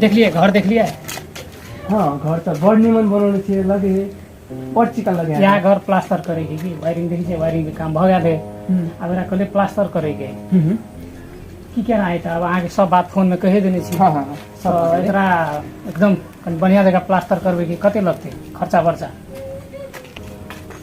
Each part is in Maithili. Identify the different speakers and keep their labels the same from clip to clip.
Speaker 1: देखलियै घर देखलियै हाँ घर तऽ बड़ नीमन बनल छै लगे है बड़ चिकन लगे है यहाँ घर प्लास्टर करे के की वायरिंग देखी छै वायरिंग के काम भऽ गेल है अब एकरा कहले प्लास्टर करे के की केना है तऽ अब अहाँके सब बात फोन में कहे देने छी हाँ हाँ तऽ एकरा एकदम कनि बढ़िया जगह प्लास्टर करबै के कते लगतै खर्चा बर्चा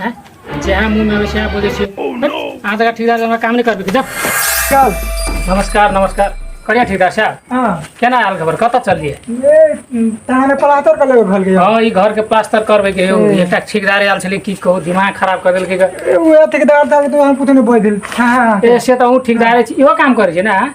Speaker 1: हैं जहाँ मुंह में आवे सएह बोलै छी अहाँ तक ठेकेदार हमरा काम नहि करबै के जाउ चल नमस्कार नमस्कार करिया ठेकेदार साहब हाँ केना आयल खबर कतऽ चललियै ये तहने पलातर कर लेबे घर के हँ ई घरके प्लास्टर करबै के यौ एकटा ठेकेदार आयल छलै की कहू दिमाग खराब कऽ देलकै ग। उहे ठेकेदार ताके तो हम कुछ नहीं बोल दिल हाँ हाँ ए से तऽ अहूँ ठेकेदारे छी इहो काम करै छी ने अहाँ?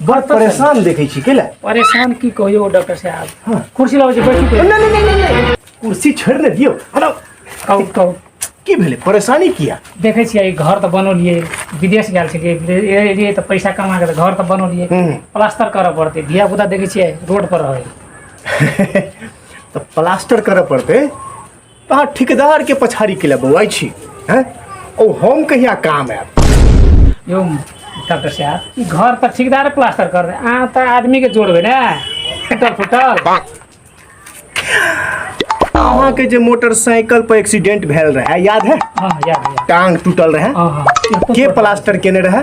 Speaker 1: बड़ परेशान देखै छी कैला परेशान की कहियो डॉक्टर साहब हाँ। कुर्सी लाबै छै बैठू के नहीं नहीं नहीं नहीं कुर्सी छोड़ ने दियो हटाओ कहू कहू की भेले परेशानी किया देखै छियै ई घर तऽ बनौलियै विदेश गेल छलियै विदेश एलियै तऽ पैसा कमा के तऽ घर तऽ बनौलियै हम्म। प्लास्टर करऽ पड़तै धिया पुता देखै छियै रोड पर रहै तो प्लास्टर करे पड़ते अहाँ ठेकेदार के पछाड़ी के लिए बौआई छी हैं ओ हम कहिया काम आयब यो डॉक्टर साहब ई घर पर ठेकेदार प्लास्टर कर दे अहाँ तऽ आदमी के जोड़बै ने फुटल फुटल अहाँ के जे मोटरसाइकिल पर एक्सीडेंट भेल रहे याद है हाँ याद है टांग टूटल रहे हाँ हाँ के प्लास्टर केने रहे